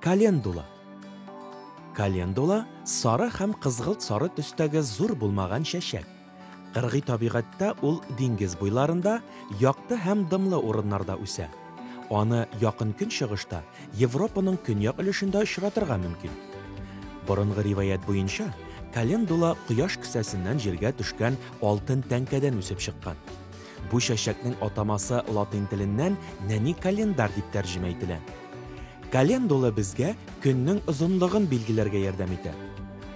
Календула. Календула сары һәм кызгылт сары төстәге зур булмаган чәчәк. Кыргый табигатьтә ул диңгез буйларында, якты һәм дымлы урыннарда үсә. Аны Якын Көнчыгышта, Европаның көньяк өлешендә очратырга мөмкин. Борынгы риваять буенча, календула кояш кесәсеннән җиргә төшкән алтын тәңкәдән үсеп чыккан. Бу чәчәкнең атамасы латин теленнән нәни календар дип тәрҗемә ителә. Календула безгә көннең озынлыгын билгеләргә ярдәм итә.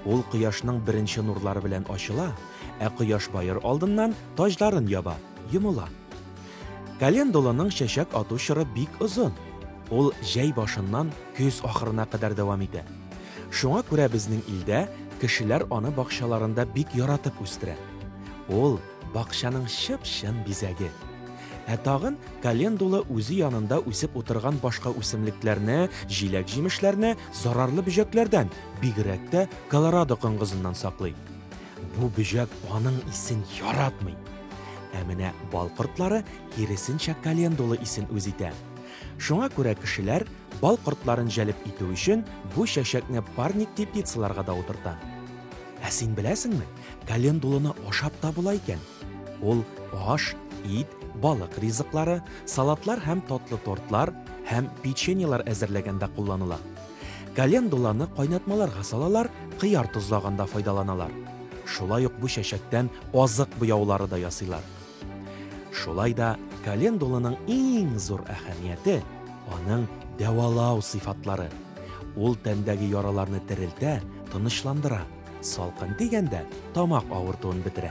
Ул кояшның беренче нурлары белән ачыла, ә кояш баер алдыннан таҗларын яба, йомыла. Календуланың чәчәк ату чоры бик озын. Ул җәй башыннан көз ахырына кадәр дәвам итә. Шуңа күрә безнең илдә кешеләр аны бакчаларында бик яратып үстерә. Ул, бакчаның чып-чын бизәге. Ә тагын календула үзе янында үсеп утырган башка үсемлекләрне, җиләк-җимешләрне зарарлы бөҗәкләрдән, бигрәк тә колорадо коңгызыннан саклый. Бу бөҗәк аның исен яратмый. Ә менә бал кортлары киресенчә календула исен үз итә. Шуңа күрә кешеләр бал кортларын җәлеп итү өчен бу чәчәкне парник теплицаларга да утырта. Ә син беләсеңме, календуланы ашап та була икән. Ул аш, ит, балык ризыклары, салатлар һәм татлы тортлар һәм печеньелар әзерләгәндә кулланыла. Календуланы кайнатмаларга салалар, кыяр тозлаганда файдаланалар. Шулай ук бу чәчәктән азык буяулары да ясыйлар. Шулай да календуланың иң зур әһәмияте, аның дәвалау сыйфатлары. Ул тәндәге яраларны терелтә, тынычландыра, салкын тигәндә тамак авыртуын бетерә.